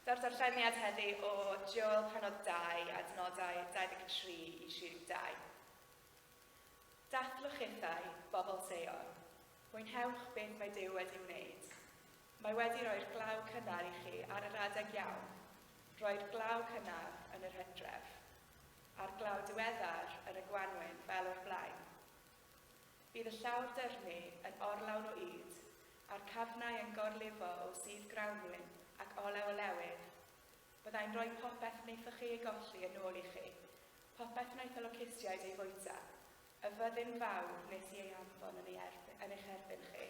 Daw'r darlleniad heddi o Joel penod 2 a dynodau 23 i 32. Dathlwch hithau, bobl Seion. Mwynhewch beth mae Dyw wedi wneud. Mae wedi rhoi'r glaw cynnar i chi ar yr adeg iawn. Rhoi'r glaw cynnar yn yr hydref. a'r glaw diweddar yn y gwanwyn fel o'r blaen. Bydd y llawr dyrnu yn orlawn o ŷd, a'r cafnau yn gorlifo o sudd grawnwyn ac olew o lewydd. Byddai'n rhoi popeth wnaethoch chi ei golli yn ôl i chi, popeth wnaeth y locustiaid ei fwyta, y fyddin fawr wnes i ei anfon yn, ei erbyn, yn eich erbyn chi.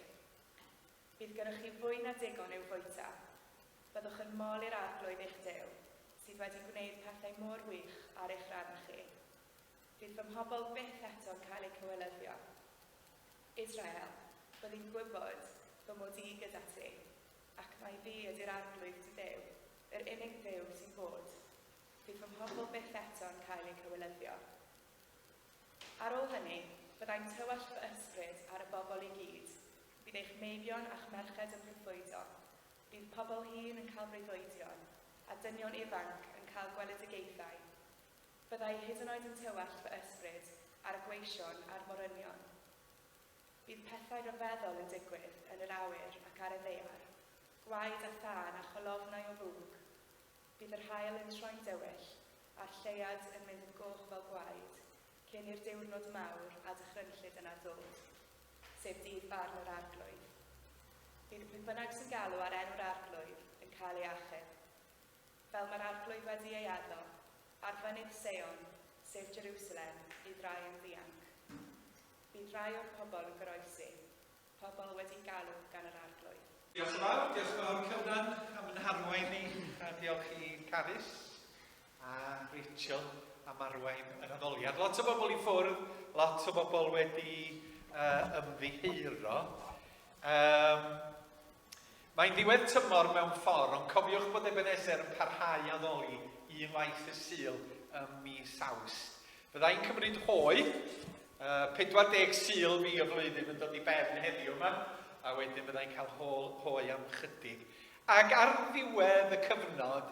Bydd gennych chi fwy na digon i'w fwyta. Byddwch yn mol i'r Arglwydd eich Duw, sydd wedi gwneud pethau mor wych ar eich rhan chi. Fydd fy mhobl byth eto'n cael eu cywilyddio. Israel, byddi'n gwybod fy mod i gyda ti, ac mai fi ydy'r Arglwydd dy Dduw, yr unig Dduw sy'n bod. Fydd fy mhobl byth eto'n cael eu cywilyddio. Ar ôl hynny, byddai'n tywallt fy ysbryd ar y bobl i gyd, bydd eich meibion a'ch merched yn proffwydo, bydd pobl hŷn yn cael breuddwydion, a dynion ifanc yn cael gweledigaethau. Byddai hyd yn oed yn tywallt fy ysbryd ar y gweision a'r morynion. Bydd pethau rhyfeddol yn digwydd yn yr awyr ac ar y ddaear, gwaed a thân a cholofnau o fwg, Bydd yr haul yn troi'n dywyll, a'r lleuad yn mynd yn goch fel gwaed, cyn i'r diwrnod mawr a dychrynllyd yna ddod, sef dydd barn yr Arglwydd. Bydd y peth bynnag sy'n galw ar enw'r Arglwydd yn cael ei achub. Fel mae'r Arglwydd wedi ei addo, ar fynydd Seion, sef Jerusalem, bydd rhai yn ddianc. Bydd rhai o'r pobl yn goroesi. pobl wedi galw gan yr Arglwydd. Diolch yn fawr, diolch yn fawr Cyfran am yn harwain ni, a diolch i Carys a Rachel am arwain yr addoliad. Lot o bobl i ffwrdd, lot o bobl wedi uh, ymddiheuro. Um, Mae'n ddiwedd tymor mewn ffordd, ond cofiwch bod Ebenezer yn parhau i addoli unwaith y Sul ym mis Awst. Byddai'n cymryd hoe, 40 Sul fi y flwyddyn yn dod i ben heddiw yma, a wedyn byddai'n cael hoe am chydig. Ac ar ddiwedd y cyfnod,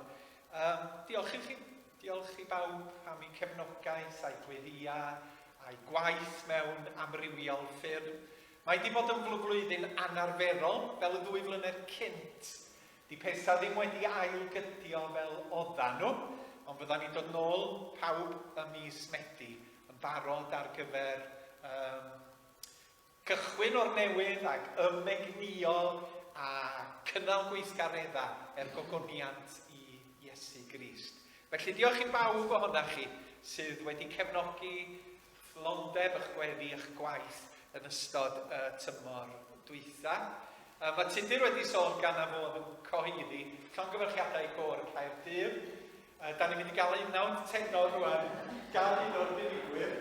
um, diolch i chi, diolch i bawb am eu cefnogaeth, a'u gweddïau, a'i gwaith mewn amrywiol ffyrdd. Mae 'di bod yn flwflwyddyn anarferol fel y ddwy flynedd cynt. 'Di petha ddim wedi ail gydio fel odda nhw, ond fydda ni'n dod nôl pawb ym mis Medi yn barod ar gyfer um, cychwyn o'r newydd ac ymegnïo a cynnal gweithgaredda er gogoniant i Iesu Grist. Felly diolch i bawb ohonoch chi sydd wedi cefnogi Perfformioldeb a'ch gweddi a'ch gwaith yn ystod y tymor dwytha. Yy mae Tudur wedi sôn gan am fod yn cyhoeddi llongyfarchiadau i Gôr Caerdydd. Yy da ni'n mynd i gael un nawr tenor rwan gan un o'r dirigwyr.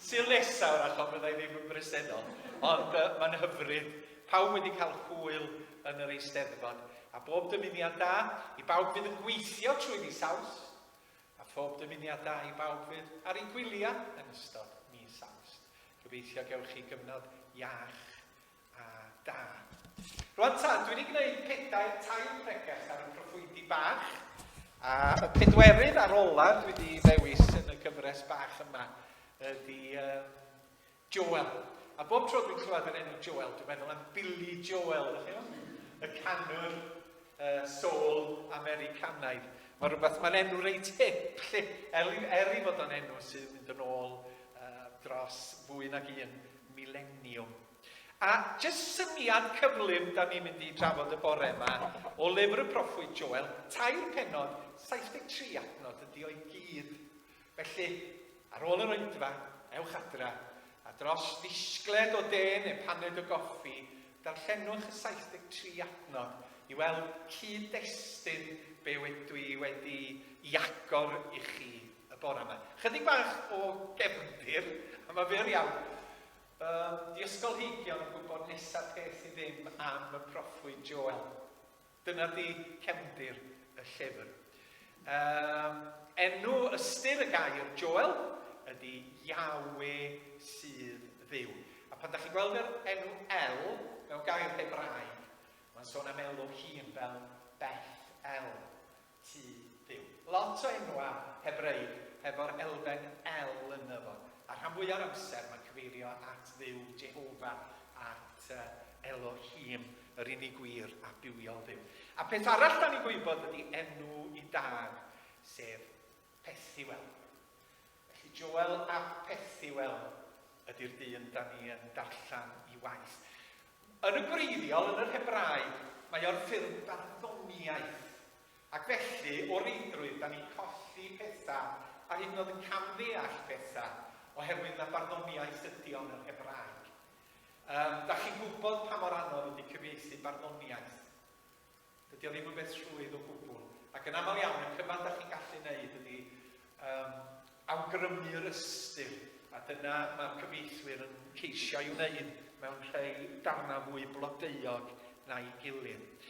Sil nesaf o'r achos byddai ddim yn bresennol, ond uh, mae'n hyfryd. Pawb wedi cael hwyl yn yr Eisteddfod, a bob dymuniad da i bawb fydd yn gweithio trwy fis Awst, a phob dymuniad da i bawb fydd ar eu gwyliau yn ystod mis Awst. Gobeithio gewch chi gyfnod iach a da. Rwan ta, dwi wedi gwneud pedair tair pregeth ar y proffwydi bach, a y pedwerydd ar olaf dwi wedi ddewis yn y gyfres bach yma ydy uh, Joel. A bob tro dwi'n clywed yr enw Joel, dwi'n meddwl am Billy Joel, ydych chi'n Y canwr uh, soul Americanaidd. Mae rhywbeth, mae'n enw reit hip, lle, er, er i fod o'n enw sy'n mynd yn ôl uh, dros fwy nag un mileniwm. A jyst syniad cyflym da ni'n mynd i drafod y bore yma o lyfr y proffwyd Joel, tair penod, 73 adnod ydi o'i gyd. Felly, ar ôl yr oedfa, ewch adra, a dros ddisgled o de neu paned o goffi, darllenwch y 73 adnod i weld cyd-destun be wydw i wedi i agor i chi y bore yma. Chydig bach o gefndir, a mae fyr iawn. Um, di ysgolheigion yn gwybod nesaf peth i ddim am y proffwyd Joel. Dyna di cefndir y llyfr. Um, enw ystyr y gair Joel ydy Yahweh sydd ddiw. A pan da chi'n gweld yr enw El mewn gair Hebraeg, mae'n sôn am elw hun fel Beth El. Tŷ Duw. Lot o enwau Hebraeg hefo'r elfen 'el' ynddo fo, a rhan fwya o'r amser mae'n cyfeirio at Dduw, Jehova, at Elohim, yr unig wir a bywiol Dduw. A peth arall da ni'n gwybod ydy enw i dad, sef Pethuel. Felly Joel ap Pethuel ydy'r dyn da ni yn darllen i waith. Yn y gwreiddiol, yn yr Hebraeg, mae o'r ffurf barddoniaeth, ac felly, o reidrwydd, da ni'n colli pethau, a hyd yn oed yn camddeall pethau, oherwydd na barddoniaeth ydy o'n yr Hebraeg. Um, da chi'n gwybod pa mor anodd ydy cyfieithu barddoniaeth? Dydy o ddim yn beth rhwydd o gwbl, ac yn aml iawn y cyfan da chi'n gallu wneud ydy um, awgrymu'r ystyr, a dyna mae'r cyfieithwyr yn ceisio ei wneud mewn rhai darnau fwy blodeuog na'i gilydd.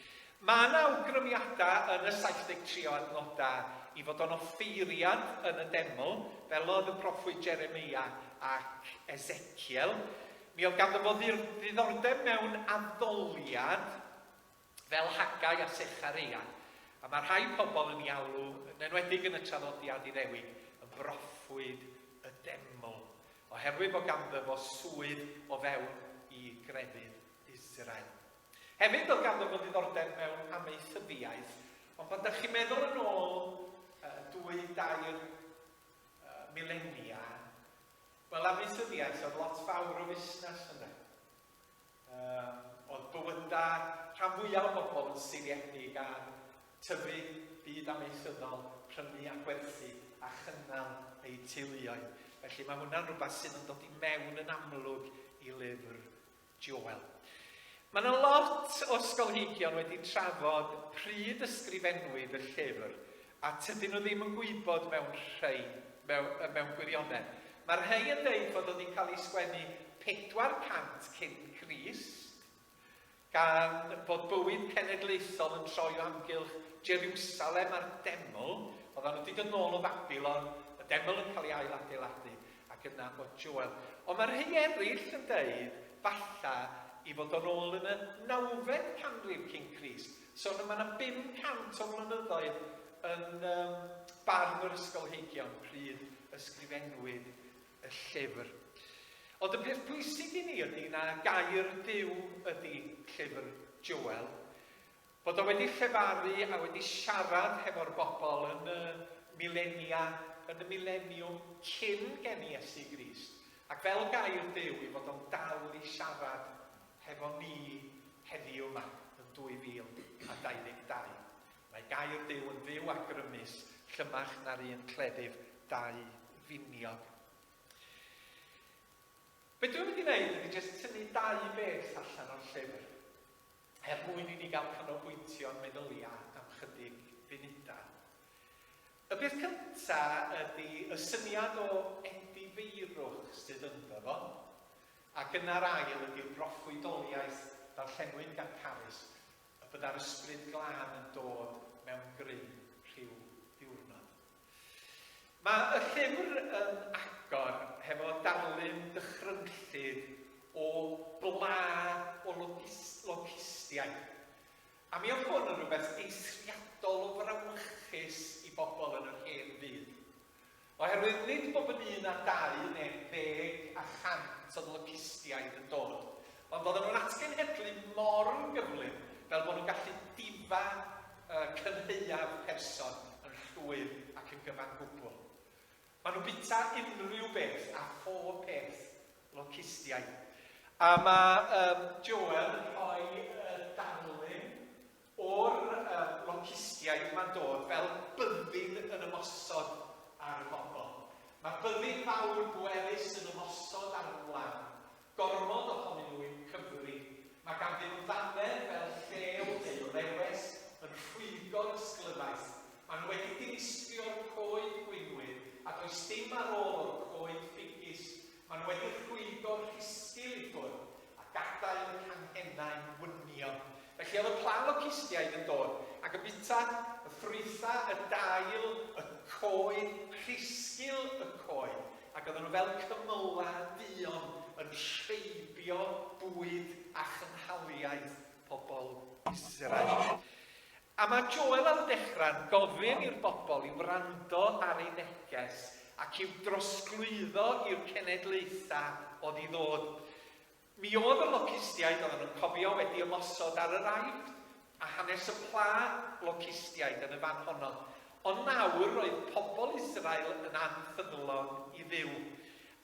Mae yna awgrymiadau yn y 73 o adnodau i fod o'n offeiriad yn y deml, fel oedd y proffwyd Jeremia ac Ezekiel. Mi oedd ganddo fo ddiddordeb mewn addoliad fel Haggai a Sechareia, a mae rhai pobl yn ei alw, yn enwedig yn y traddodiad Iddewig, yn broffwyd y deml, oherwydd bod ganddo fo swydd o fewn i grefydd Israel. Hefyd, oedd ganddo fo ddiddordeb mewn amaethyddiaeth, ond pan ydych chi'n meddwl yn ôl uh, dwy, dair uh, milenia, wel amaethyddiaeth oedd lot fawr o fusnes yna. Oedd bywydau rhan fwyaf o bobl yn seiliedig ar tyfu byd amaethyddol, prynu a gwerthu a chynnal eu teuluoedd. Felly mae hwnna'n rhywbeth sydd yn dod i mewn yn amlwg i lyfr Joel. Mae yna lot o ysgolheigion wedi trafod pryd ysgrifennwyd y llyfr A tydyn nhw ddim yn gwybod mewn rhei, mewn, mewn gwirionedd. Mae rhei yn deud fod o 'di cael ei sgwennu 400 cyn Crist, gan fod bywyd cenedlaethol yn troi o amgylch Jerusalem a'r deml, oeddan nhw 'di dod nôl o Babilon, y deml yn cael ei ailadeiladu, ac yna bod Joel. Ond mae rhei eraill yn deud, falla, i fod o'n ôl yn y nawfed canrif cyn Crist, So mae 'na 500 o flynyddoedd yn um, barn yr ysgolheigion pryd ysgrifennwyd y llyfr. Ond y peth pwysig i ni ydy na gair Dyw ydy llyfr Joel, bod o wedi llefaru a wedi siarad hefo'r bobl yn y milenia, yn y mileniwm cyn gen i Iesu Grist, ac fel gair Dyw i fod o'n dal i siarad Hefo ni heddiw 'ma yn 2022, mae gair Duw yn fyw a grymus, llymach na'r un cleddyf dau finiog. Be dwi'n mynd i wneud ydy jyst tynnu dau beth allan o'r llyfr, er mwyn i ni gael canolbwyntio'n meddylia am chydig funudau. Y peth cyntaf ydy y syniad o edifeirwch sydd ynddo fo. A gynnar ail ydyw broffwydoliaeth ddarllenwyn gan Carys, y bydda'r ysbryd glân yn dod mewn grym rhyw ddiwrnod. Mae y llyfr yn agor hefo darlun dychrynllyd o bla o locustiaid, a mi oedd hwn yn rhywbeth eithriadol o frawychus i bobl yn yr hen fyd. Oherwydd nid bob yn un â dau neu ddeg a chant o dlycistiaid yn dod, ond oedden nhw'n atgenhedlu mor gyflym fel bod nhw'n gallu difa y cynhaeaf person yn llwyr ac yn gyfan gwbl. Maen nhw'n bita unrhyw beth a phob peth, locustiaid. A mae Joel yn rhoi y darlun. O'r loncistiaid mae'n dod fel byddin yn ymosod ar y bobl. Mae byddin fawr bwerus yn ymosod ar y gwlân. Gormod ohonyn nhw i'w cyfri. Mae ganddyn nhw ddannedd fel llew neu lewes yn rhwygo'r ysglyfaeth. Maen nhw wedi dinistrio'r coed gwinwydd a does dim ar ôl o'r coed ffugis Maen nhw wedi rhwygo'r rhisgil i ffwrdd a gadael y canghennau'n wynio. Felly oedd y pla locustiaid yn dod ac yn bwyta y ffrwytha, y dail, y coed, rhisgil y coed, ac oedden nhw fel cymylau duon yn rheibio bwyd a chynhaliaeth pobl Israel. A mae Joel am ddechrau'n gofyn i'r bobl i wrando ar ei neges ac i'w drosglwyddo i'r cenedlaethau oedd i ddod. Mi oedd y locustiaid, oedden nhw'n cofio, wedi ymosod ar yr Aifft, a hanes y pla locustiaid yn y fan honno. Ond nawr roedd pobl Israel yn anffyddlon i Dduw.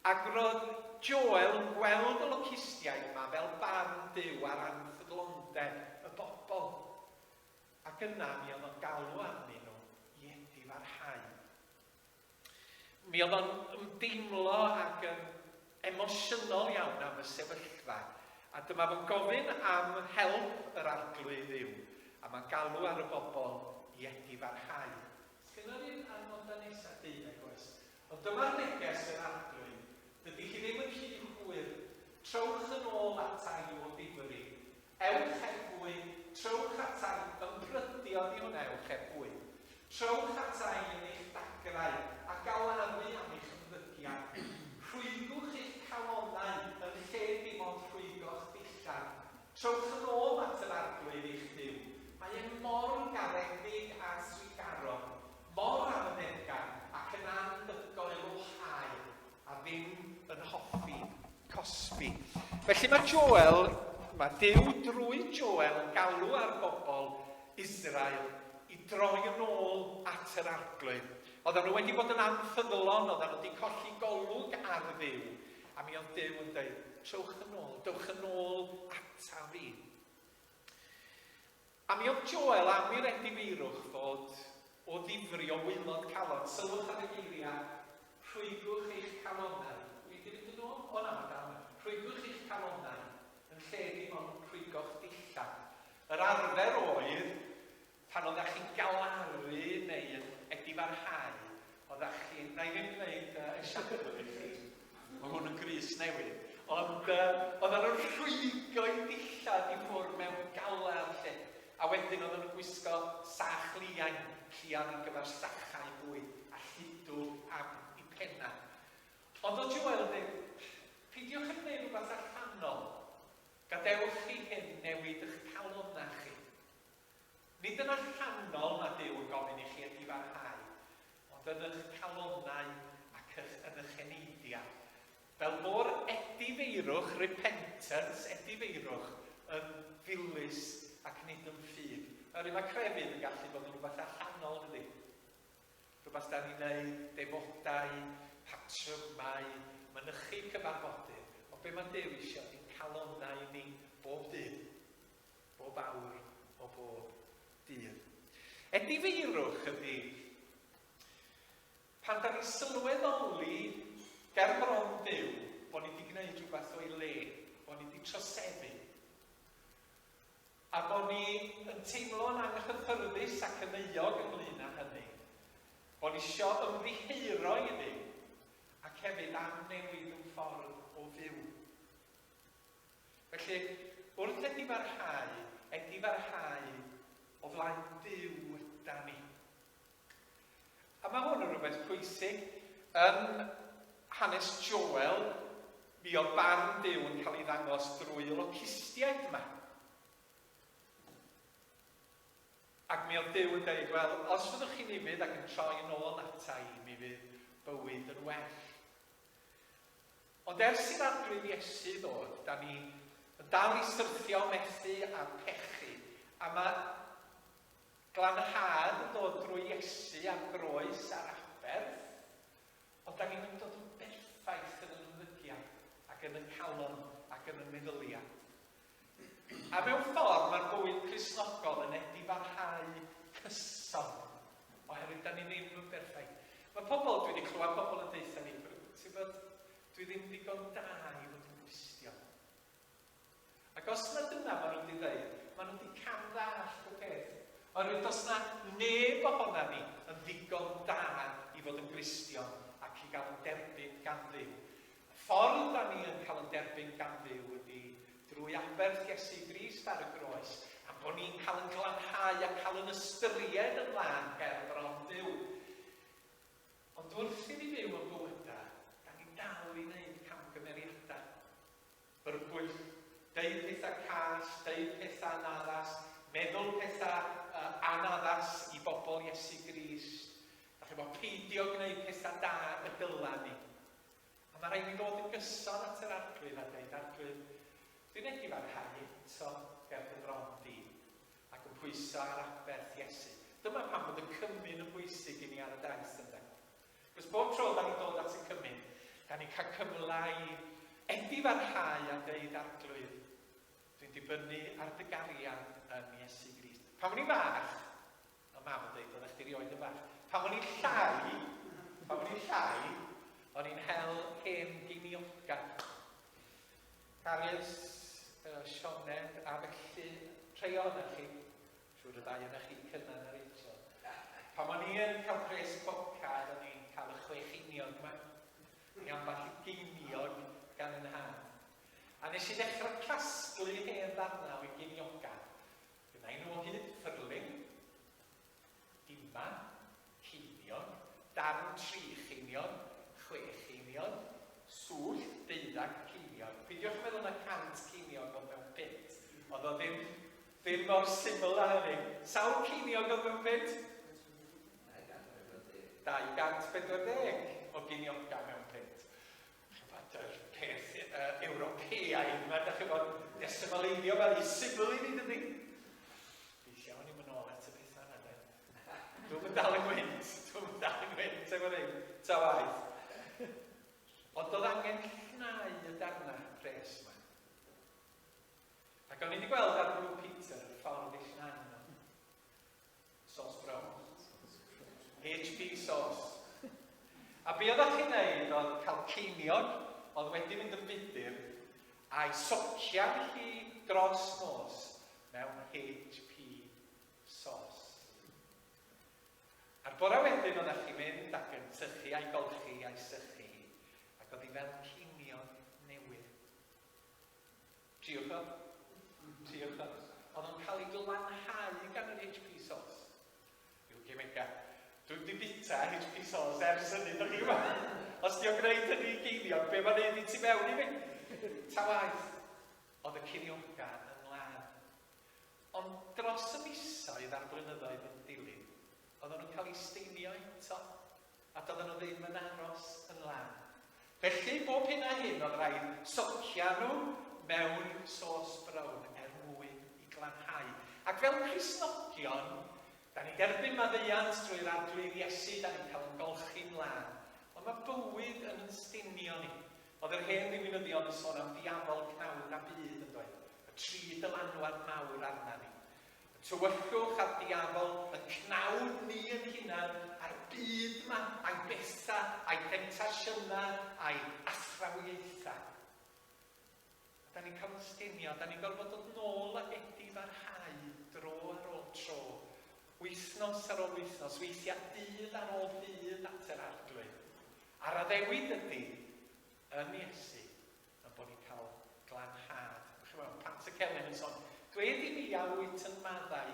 Ac roedd Joel yn gweld y locustiaid yma fel barn Duw ar anfyglondeb y bobl. Ac yna mi oedd o'n galw arnyn nhw i edifarhau. Mi oedd o'n ymdeimlo ac yn emosiynol iawn am y sefyllfa. A dyma fo'n gofyn am help yr arglwydd Dduw, a mae'n galw ar y bobl i edifarhau. Sgynna fi'r adnodau nesaf, deuddeg oes. Ond dyma'r neges yr Arglwydd, Dydy hi ddim yn rhy hwyr, trowch yn ôl ata i o ddifri. Ewch heb fwy, trowch ata i, ymbrydu oddi hwnna ewch heb fwy. Trowch ata i yn eich dagrau, a galaru am eich ymddygiad. Rhwygwch eich calonnau yn lle dim ond rhwygo'ch dillad. Trowch yn ôl at yr Arglwydd eich Duw, mae e mor garedig a thrugarog, Mor arddegau ac yn anhygoel o hael a ddim yn hoffi cosbi. Felly mae Joel, mae Duw drwy Joel yn galw ar bobl Israel i droi yn ôl at yr Arglwydd. Oedden nhw wedi bod yn anffyddlon, oedden nhw wedi colli golwg ar Dduw, a mi oedd Duw yn dweud, trowch yn ôl, dowch yn ôl ataf i. A mi oedd Joel am i'r edifeirwch fod o ddifri o waelod calon. Sylwch ar y geiriau, rhwygwch eich calonnau. Wi 'di mynd yn ôl? O na, da wan. Rhwygwch eich calonnau, yn lle dim ond rhwygo'ch dillad. Yr arfer oedd, pan oeddach chi'n galaru neu yn edifarhau, Oeddach chi... Na i ddim gwneud uh, y siacwn i chi. Mae hwn yn gris newydd. Ond uh, oedden nhw'n rhwygo i dillad i ffwrdd mewn galar lle. A wedyn oedden nhw'n gwisgo sach liain, llian ar gyfer sachau bwy, a lludw am i penna. Ond o Joel yn dweud, peidiwch yn gwneud rhywbeth allanol. Gadewch chi hyn newid eich calonau chi. Nid yn allanol nad Duw yn gofyn i chi ydifarhau, ond yn ych calonnau ac ych yn ych eneidiau. Fel bo'r edifeirwch, repentance, edifeirwch, yn ddilys ac nid yn ffug. Oherwydd mae crefydd yn gallu bod yn rhywbeth allanol, dydy? Rhywbeth da ni'n neud, defodau, patrymau, mynychu cyfarfodydd, o be mae Duw eisiau, ni'n calonnau ni bob dydd. bob awr o bob dydd. Edifeirwch ydy. Pan da ni'n sylweddoli ger bron byw bod ni wedi gwneud rhywbeth o'i le, bod ni wedi troseddu, a bod ni yn teimlo'n anghyffyrddus ac yn euog ynglyn â hynny, bod ni isio ymddiheuro i ddi, ac hefyd am newid yn ffordd o fyw. Felly, wrth edifarhau, edifarhau o flaen Duw da ni. A mae hwn yn rhywbeth pwysig. Yn hanes Joel, mi oedd barn Duw yn cael ei ddangos drwy y locustiaid yma. Ac mi oedd Duw yn dweud, wel, os fyddwch chi'n ifydd ac yn troi yn ôl ata i, mi fydd bywyd yn well. Ond ers i'r Arglwydd Iesu ddod, da ni yn dal i syrthio, methu a pechu. A mae glanhad yn dod drwy Iesu a'r groes a'r aberth, ond da ni'm yn dod yn berffaith yn yn ymddygiad ac yn yn calon ac yn yn meddyliad. A mewn ffordd mae'r bywyd Cristnogol yn edifarhau cyson, oherwydd da ni ddim yn berffaith. Mae pobl, dwi wedi clywed pobl yn deutha ni, ti'n bod, dwi ddim ddigon da i fod yn Gristion. Ac os na dyna maen nhw wedi dweud, maen nhw wedi cam ddall y peth. Oherwydd dos na neb ohona ni yn ddigon da i fod yn Gristion ac i gael yn derbyn gan ddim. Y ffordd dan ni yn cael yn derbyn gan Dduw ydy drwy aberth Iesu Grist ar y groes, am bod ni'n cael yn glanhau a cael yn ystyried yn lân her bron Duw. Ond wrth i ni fyw yn bywyda, dan ni'n dal i wneud camgymeriadau. Byrbwyll, deud pethau call, deud pethau anaddas, meddwl pethau uh, anaddas i bobl Iesu Grist. Da chi bod peidio gwneud pethau da y dylan ni. Ond mae rhaid mi ddod yn gyson at yr Arglwydd a deud, Arglwydd, dwi'n edif ar hau eto ger dy fron di, ac yn pwyso ar aberth Iesu. Dyma pam bod y cymun yn bwysig i ni ar y daith, ynde? Cos bob tro da ni'n dod at y cymun, da ni'n cael cyfle i edif ar hau a deud, Arglwydd, dwi'n dibynnu ar dy gariad yn Iesu Grist. Pan o'n i'n fach, A mam yn deud, oeddech chdi rioed yn fach. Pan o'n i'n llai, pan o'n i'n llai, o'n i'n hel hen ginioca. Carys, uh, Sioned, a felly, treio yna chi. Siwr y ddau yna chi, Cynan a Rachel. Pan o'n i'n cael pres boca, o'n i'n cael y chwech union yma. Ni amball i geiniog gan yn hân. A nes i ddechrau casglu hen ddarnau o'i ginioga. Gwnai nhw o hyd, ffyrling, diman, ceiniog, darn tri cheiniog, chwe cheiniog, swllt, deuddag ceiniog. Pidiwch yn meddwl na cant ceiniog oedd mewn pint. Oedd o ddim, ddim mor syml â hynny. Sawl ceiniog oedd mewn pint? 240. 240 o geiniogau mewn pint. Chibod, yr peth uh, Ewropeaidd yma, da chibod, desymaleiddio fel i sifl i ni, dydy? Fi llawn i'n mynd ôl at y pethau yna, de. Dwi'n mynd dal yn gwynt, dwi'n mynd dal yn gwynt, efo'r ein, ta waith. Ond oedd angen llnau y darna pres yma. Ac o'n i wedi gweld ar Blue Peter y ffordd i llnau yno. Sos brown. HP sos. A be oeddech chi'n neud oedd cael ceiniog oedd wedi mynd yn fudur a'i socian hi dros nos mewn HP sos. A'r bore wedyn oeddech chi'n mynd ac yn sychu a'i golchi a'i sychu ac oedd hi fel ceiniog newydd. Triwch o. Triwch o. Oedd o'n cael ei glanhau gan yr HP Source. Rhyw gemega. Dwi wedi bita HP Source ers hynny, dych chi'n gwybod? Os di o'n gwneud hynny i geiniog, be mae'n neud i ti mewn i mi? Ta waith. Oedd y ceiniogau yn lân. Ond dros y misoedd a'r blynyddoedd yn dilyn, oedden nhw'n cael ei steinio eto. A doedden nhw ddim yn aros yn lan. Felly, bob hyn a hyn oedd rhaid socia nhw mewn sos brown er mwyn i glanhau. Ac fel Cristnogion, da ni'n derbyn maddeuant drwy'r Arglwydd Iesu, da ni'n cael ymgolchi mlaen. Ond mae bywyd yn yn stinio ni. Oedd yr hen ddiwinyddion yn sôn am ddiafol cnawd a byd, yn doedd? Y tri dylanwad mawr arna ni. Tywyllwch ar diafol y cnawd ni yn hunan a'r byd yma, a'i betha, a'i phentasiynau, a'i athrawiaetha. A da ni'n cael yn stinio, da ni'n gorfod dod nôl a wedi barhau dro ar ôl tro, wythnos ar ôl wythnos, weithiau dydd ar ôl dydd at yr arglwydd. A'r addewid ydy, yn Iesu, a bod ni'n cael glanhad. Chimod, Pant y Celyn yn son, Gwe di mi a wyt yn maddau,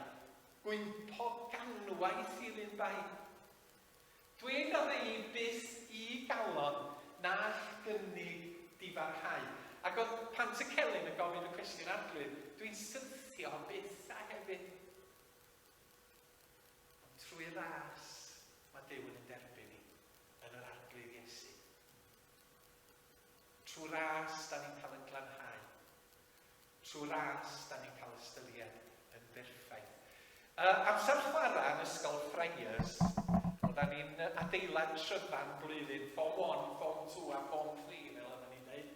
gwympo ganwaith i'r un bai. Dweud a ddeu byth i galon na'ch gynnig difarhau. Ac oedd Pant y Celyn yn gofyn y cwestiwn arglwydd, dwi'n syrthio byth a hefyd. Ond trwy ras, mae Dyw yn ein derbyn ni, yn yr arglwydd Iesu. Trwy ras, da ni'n cael ein glanhau. Trwy ras, da ni'n cael ystyried yn berffaith. Uh, amser chwarae yn ysgol Friars, oedda ni'n adeilad tryfan blwyddyn, form 1, form 2 a form 3, fel yna ni'n dweud.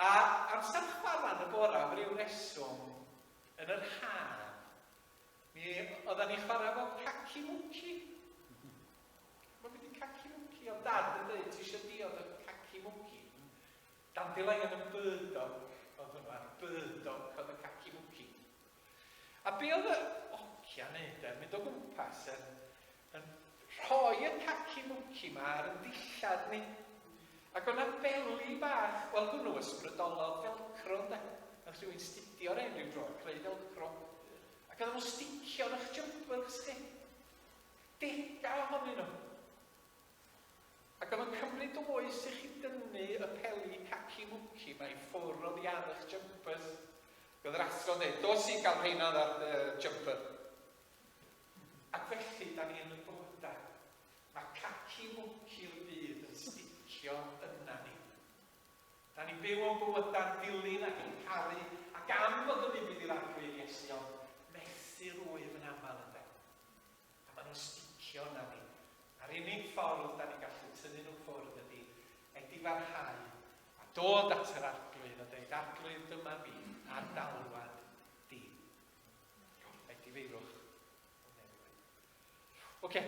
A amser chwarae yn y bora, am ryw reswm, yn yr haf, mi oedda ni'n chwarae fo paci mwci. Mae gen i caci mwnci, oedd Dad yn deud, ti eisiau diod y caci mwnci? Dandelion yn burdock oedd hwnnw, a'r burdock oedd y caci mwnci. A be oedd y ogia wneud e, mynd o gwmpas yn, yn rhoi y caci mwnci ma ar y dillad ni. Ac o'na beli bach, wel hwnnw ysbrydolodd felcro ynde. Yn rhywun stidio ar ein rhyw dro, creu felcro. Ac oedd nhw'n sticio yn eich jumper chdi. Degau ohonyn nhw. Ac oedd o'n cymryd o oes i chi dynnu y peli caci mwci mae i ffwr oddi ar eich jumper. Oedd yr athro'n dweud, dos i gael rheina ar dy jumper. Ac felly, da ni yn y bywydau. Mae caci mwci'r byd yn sticio yna ni. Da ni'n byw o'n bywydau'n dilyn ac yn caru ac am fod yn ufudd i'r arglwydd Iesu, ond mesur wyf yn aml ynde. A maen nhw'n sticio yna ni. A'r unig ffordd da ni'n gallu tynnu nhw ffwrdd ydy edifarhau a dod at yr arglwydd a dweud, arglwydd dyma fi, ar galwad di. Edifeirwch. Oce, okay.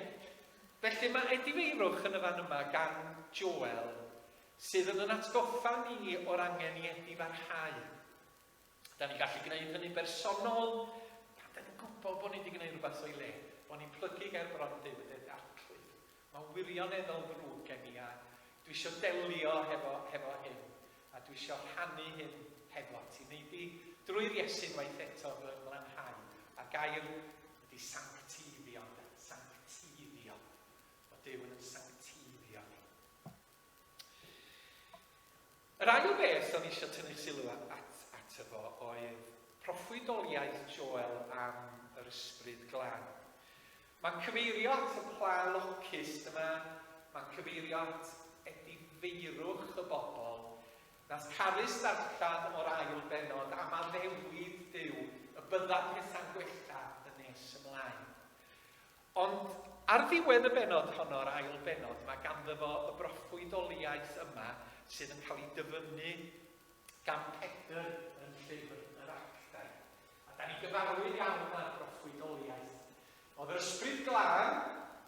felly mae edifeirwch yn y fan yma gan Joel sydd yn yn atgoffa ni o'r angen i edifarhau. Da ni'n gallu gwneud hynny'n bersonol, pan da ni'n gwybod bod ni wedi gwneud rhywbeth o'i le, bod ni'n plygu gair bron Duw yn ddeud arglwydd. Mae'n wirioneddol ddrwg gen i a dwi eisiau delio hefo, hefo hyn a dwi eisiau rhannu hyn hefo ti. Maybe drwy'r Iesu'n waith eto fy ymlanhau a gair ydy sanctifio, sanctifio. Mae Duw yn sanctifio ni. Yr ail beth o'n i eisiau tynnu'ch sylw ato fo oedd proffwydoliaeth Joel am yr Ysbryd Glân. Mae'n cyfeirio at y pla locus yma, mae'n cyfeirio at edifeirwch y bobl. Nas Carys ddarllen o'r ail bennod am addewid Duw y bydda pethau'n gwella yn nes ymlaen. Ond ar ddiwedd y bennod honno, yr ail bennod, mae ganddo fo y broffwydoliaeth yma sydd yn cael ei dyfynnu gan Pedr yn llyfr yr Actau. A da ni'n gyfarwydd iawn â'r broffwydoliaeth. Oedd yr Ysbryd Glân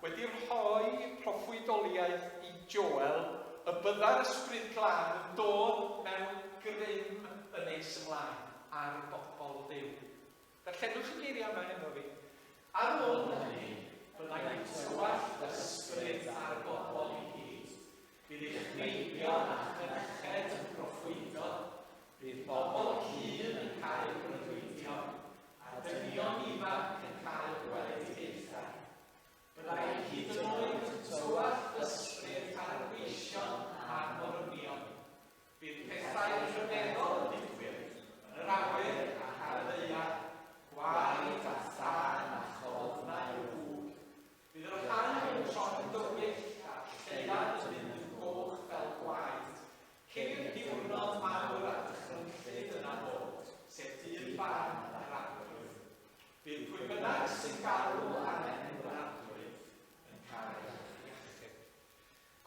wedi rhoi proffwydoliaeth i Joel y bydda'r Ysbryd Glân yn dod mewn grym yn nes ymlaen ar bobl Dduw. Darllenwch y geiriau yma hefo fi. Ar ôl hynny, fe wnaeth tywallt yr Ysbryd ar bobl i gyd. Bydd eich meibion a'ch mynyched yn proffwydo, bydd bobl hŷn yn cael breuddwydio, a dynion ifanc yn cael gweledigaethau. Byddai hyd yn oed tywallt yr Ysbryd ar y gweision a'r morwynion. Bydd pethau rhyfeddol yn digwydd yn yr awyr a ar y ddaear, gwaed a thân a cholofnau o ŵg. Bydd yr haul yn tron yn dywyll a'r lleuad yn mynd yn goch fel gwaed, cyn i'r diwrnod mawr a dychrynllyd yna ddod, sef dydd barn yr arglwydd. Bydd pwy bynnag sy'n galw ar enw'r arglwydd yn cael ei achub.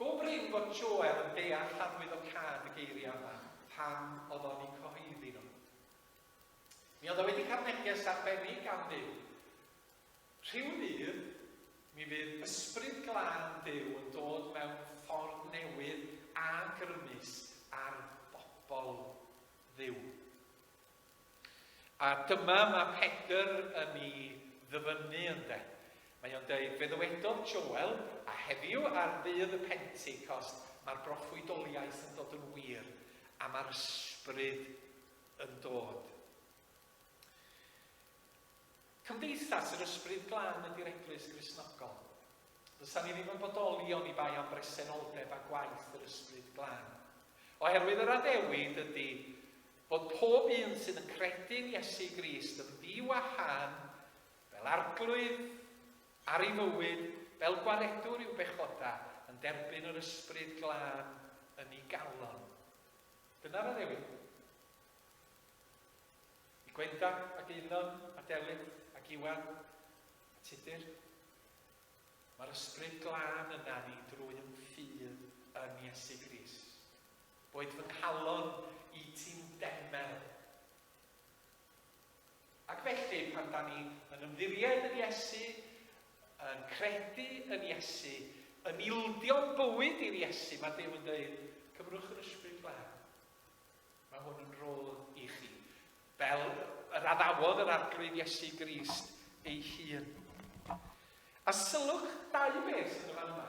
Go brin fod Joel yn deall llafwyddocâd y geiriau yma pan oedd o'n eu cyhoeddi nhw. Mi oedd o wedi cael neges arbennig gan Dduw. Rhyw ddydd, mi fydd ysbryd glân Duw yn dod mewn ffordd newydd a grymus ar bobl Dduw. A dyma mae Pedr yn i ddyfynnu ynde. Mae o'n deud, fe ddywedodd Joel, a heddiw ar ddydd y Pentecost mae'r broffwydoliaeth yn dod yn wir, a mae'r ysbryd yn dod. Cymdeithas yr ysbryd glân ydy'r eglwys grisnogol. Fysa ni ddim yn bodoli o'n i bai am bresenoldeb a gwaith yr ysbryd glân. Oherwydd yr addewid ydy, Bod pob un sydd yn credu'n Iesu Grist yn fyw â thân fel Arglwydd ar ei fywyd, fel Gwaredwr i'w bechodau, yn derbyn yr Ysbryd Glân yn ei galon. Dyna'r addewid. I Gwenda ac Eunon a Delyn ac Iwan a Tudur, mae'r Ysbryd Glân yna ni drwy'n ffydd yn Iesu Grist. Boed fy nghalon i ti'n demel. Ac felly, pan da ni yn ymddiried yn Iesu, yn credu yn Iesu, yn ildio bywyd i'r Iesu, mae Dyw yn dweud, cyfrwch yr ysbryd glân. Mae hwn yn rôl i chi. Fel yr addawodd yr arglwydd Iesu Grist ei hun. A sylwch dau beth yn y fan yma.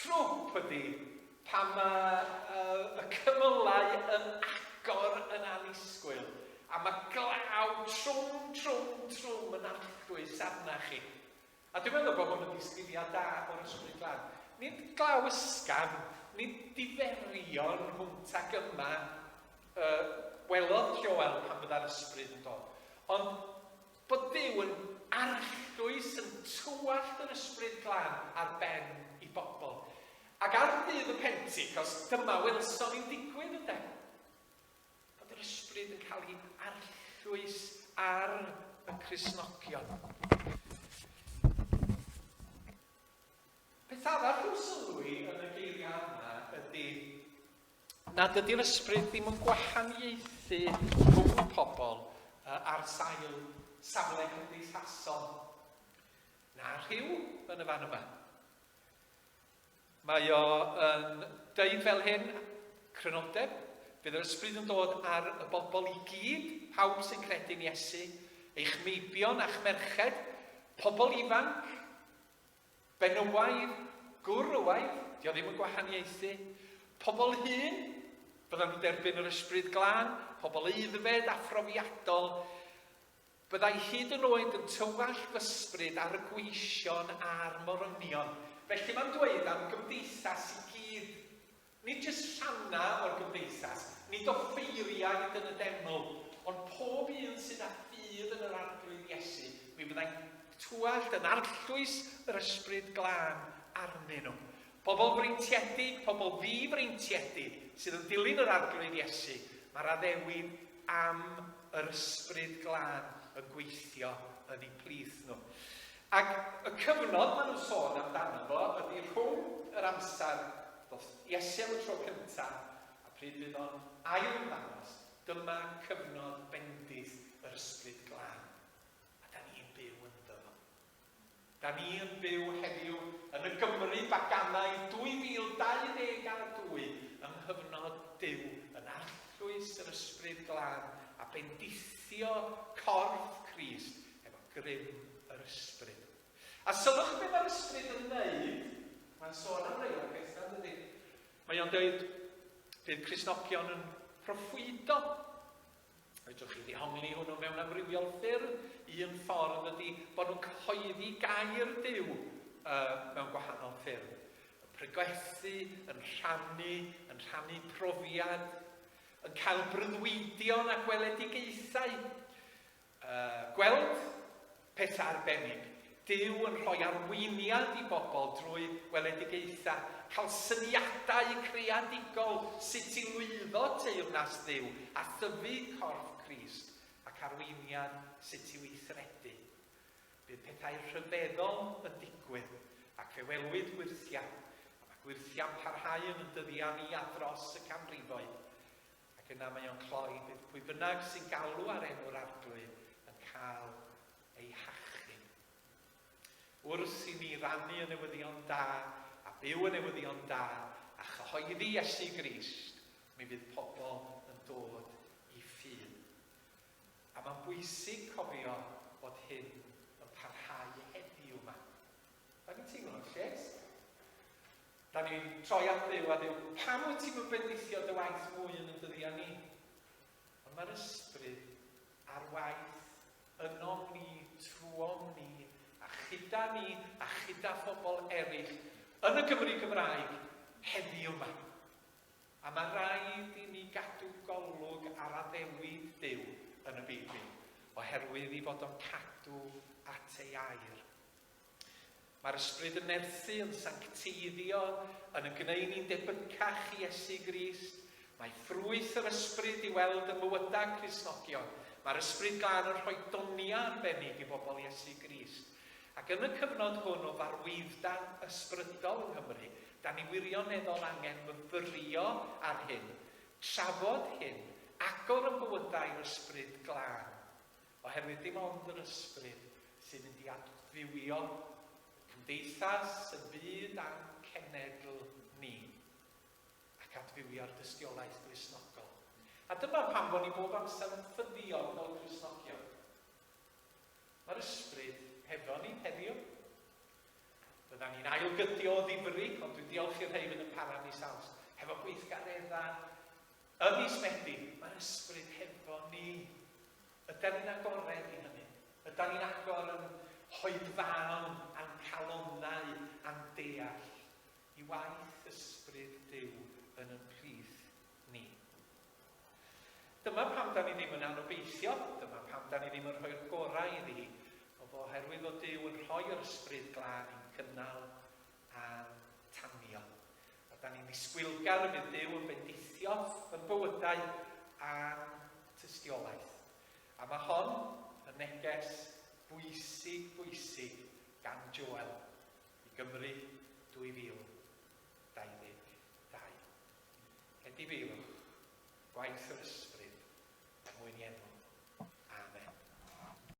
Trwp ydy, pan mae y cymylau yn agor yn annisgwyl, a mae glaw trwm, trwm, trwm yn alltgdwys arna chi. A dwi'n meddwl bod hwn yn disgrifiad da o'r Ysbryd Glân. Nid glaw ysgafn, nid diferion hwnt ag yma y welodd Joel pan fydda'r Ysbryd yn dod, ond Bod Duw yn arllwys, yn tywallt yn Ysbryd Glân ar ben I bobl. Ac ar Ddydd y Pentecost, dyma welson ni'n digwydd, ynde? Bod yr Ysbryd yn cael ei arllwys ar y Cristnogion. Peth arall i'w sylwi yn y geiriau yma ydy nad ydy'r ysbryd ddim yn gwahaniaethu rhwng pobl uh, ar sail safle cymdeithasol na rhyw yn y fan yma. Mae o yn deud fel hyn, crynodeb, bydd yr ysbryd yn dod ar y bobl i gyd, pawb sy'n credu'n Iesu, eich meibion a'ch merched, pobl ifanc, Benywaidd, gwr o waith, dio ddim yn gwahaniaethu. Pobl hŷn, byddan nhw'n derbyn yr Ysbryd Glân, pobl aeddfed a phrofiadol, byddai hyd yn oed yn tywallt f'ysbryd ar y gweision a'r morynion. Felly mae'n dweud am gymdeithas i gyd Nid jyst rhannau o'r gymdeithas, nid offeiriaid yn y deml, ond pob un sydd â ffydd yn yr Arglwydd Iesu, mi fyddai'n twallt yn arllwys yr Ysbryd Glân arnyn nhw. Pobl freintiedig, pobl ddi-freintiedig, sydd yn dilyn yr Arglwydd Iesu, mae'r addewid am yr Ysbryd Glân yn gweithio yn eu plith nhw. Ac y cyfnod maen nhw'n sôn amdano fo ydi rhwng yr amser ddoth Iesu am y tro cynta a pryd fydd o'n ail-ymddangos, dyma cyfnod bendith yr Ysbryd Glân, a 'da ni'n byw ynddo fo. 'Da ni yn byw heddiw yn y Gymru baganaidd 2022 yng nghyfnod Duw yn arllwys yr Ysbryd Glân a bendithio corff Crist efo grym yr ysbryd. A sylwch be mae'r ysbryd yn wneud, mae'n sôn am rei o'r pethau, dydy. Mae o'n dweud, bydd Crisnogion yn proffwydo. Fedrwch chi ddihongli hwnnw mewn amrywiol ffyrdd. Un ffordd ydy bod nhw'n cyhoeddi gair Duw uh, mewn gwahanol ffyrdd. Yn preglethu, yn rhannu, yn rhannu profiad, yn cael brydwidion a gweledigaethau. A gweld peth arbennig. Duw yn rhoi arweiniad i bobl drwy weledigaethau, cael syniadau creadigol sut i lwyddo teyrnas Dduw a thyfu corff Crist, ac arweiniad sut i weithredu. Bydd pethau rhyfeddol yn digwydd, ac fe welwyd gwyrthiau, a mae gwyrthiau'n parhau yn ein dyddiau ni a dros y canrifoedd. Ac yna mae o'n cloi, bydd pwy bynnag sy'n galw ar enw'r Arglwydd yn cael ei hachub. Wrth i ni rannu y newyddion da a byw y newyddion da a chyhoeddi Iesu Grist, mi fydd pobl yn dod i ffydd. A mae'n bwysig cofio bod hyn yn parhau heddiw yma. Da ni'n teimlo yn lles. Da ni'n troi at Dduw a Dduw, pam wyt ti'n bendithio dy waith mwy yn y dyddiau ni? Ond mae'r ysbryd ar waith yno ni, trwom ni, a chyda ni, a chyda phobl eraill yn y Gymru Gymraeg heddi yma. A mae rhaid i ni gadw golwg ar addewid Duw yn y Beibl, oherwydd i fod o'n cadw at ei air Mae'r ysbryd yn nerthu, yn sancteiddio, yn yn gwneu ni'n debycach i Iesu Grist. Mae ffrwyth yr ysbryd i weld ym mywydau Cristnogion. Mae'r ysbryd glân yn rhoi doniau arbennig i bobl Iesu Grist. Ac yn y cyfnod hwn o farwydda ysbrydol yng Nghymru, da ni wirioneddol angen myfyrio ar hyn, trafod hyn, agor yn bywydau i'r ysbryd glân. Oherwydd dim ond yr ysbryd sy'n mynd i adfywio cymdeithas yn fyd a'n cenedl ni, ac adfywio'r dystiolaeth Gristnogol. A dyma pam fo' ni bob amser yn ffyddiog fel Cristnogion. Mae'r ysbryd hefo ni heddiw. Byddan ni'n ailgydio o ddifri, ond dwi'n diolch i'r rhei fydd yn para mis Awst, hefo gweithgaredda Ym mis Medi, mae'r ysbryd hefo ni. Ydan ni'n agored i hynny? Ydan ni'n agor yn hoedfaon a'n calonnau a'n deall i waith ysbryd Duw yn yn plith ni? Dyma pam 'dan ni ddim yn anobeithio, dyma pam 'dan ni ddim yn rhoi'r gorau iddi hi, o fo oherwydd fod Duw yn rhoi yr ysbryd glân i'n cynnal a'n tanio. Rydan ni'n ddisgwylgar y bydd Duw yn bendithio yn bywydau a'n tystiolaeth. A mae hon yn neges bwysig, bwysig gan Joel i Gymru 2022. Edifeirwch gwaith yr ysbryd er mwyn i enw. Amen.